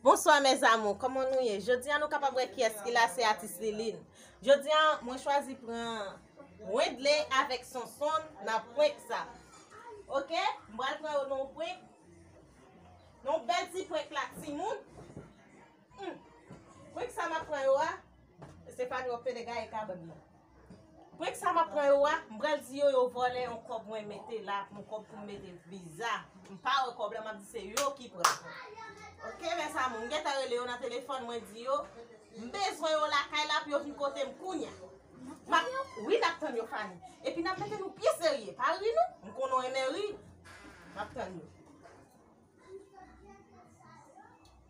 Bonswa mes amour, kòman nou ye? Jodi an nou kapab wè kiyès ki la se atis Liline. Jodi an mwen chwazi pran Wendley avèk Sonson nan prank sa. Ok, m pral pran yo nan yon prank, nan yon bèl ti prank la timoun. Prank sa m ap pran yo a, se pa nan yon pede gaye kabann nan. Prank sa map pran yo a m pral di yo yo vòlè yon kòb mwen mete la yon kòb pou m mete viza m pa wè kòb la map di se yo ki pran ok mes amour m gentan rele yo nan telefòn mwen di yo m bezwen yo lakay la pou yo vin kote m kounya map wi nap tann yo Fanny epi nap mete nou byen serye pa ri non m konnen w renmen ri map tann yo.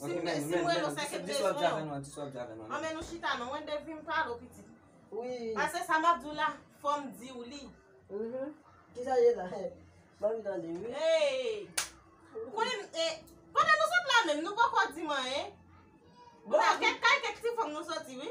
Sim de sim rele w se ke prezon. Di sa w ap di avè nou an, di sa w ap di avè nou an. An men nou chita non, mwen de vim pale w pitit. Wi. Pase sa m ap di w la, fò m di w li. Mh, ki sa ye la? M anvi tande wi. Hey! Ou konnen m e, pandan nou sot la menm nou poko di m anyen. Bon, kèk kay kèk ti fanm nou soti wi.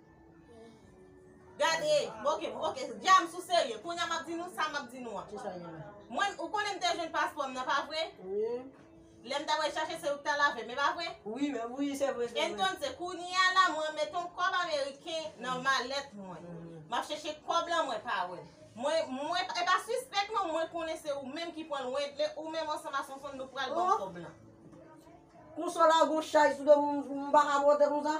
Gade, ok, ok, djam sou serye, kounya map di nou sa map di nou an. Ki sa genyen? Mwen, ou konnen mte jwenn paspò m nan, pa vre? Wi. Lè m ta wè chache se ou ki ta lave m, e pa vre? Wi, men, wi, se vre, se vre. Entonse, kounya la mwen met yon kòb ameriken nan malèt mwen. Map chache kòb lan mwen pa wè l. Mwen, mwen, e pa sispèk non, mwen konnen se ou menm ki pran l, Wendley, ou menm ansanm a Sonsonn nou pral ban kòb lan. Konsola gon chay sou do m, m pa ka monte konsa?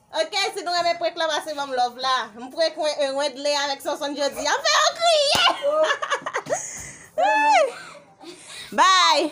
Ok si nou renmen prank lan pase banm love la m prank wen e wendley avèk sonsonn jodia m fè yon kriye Bye.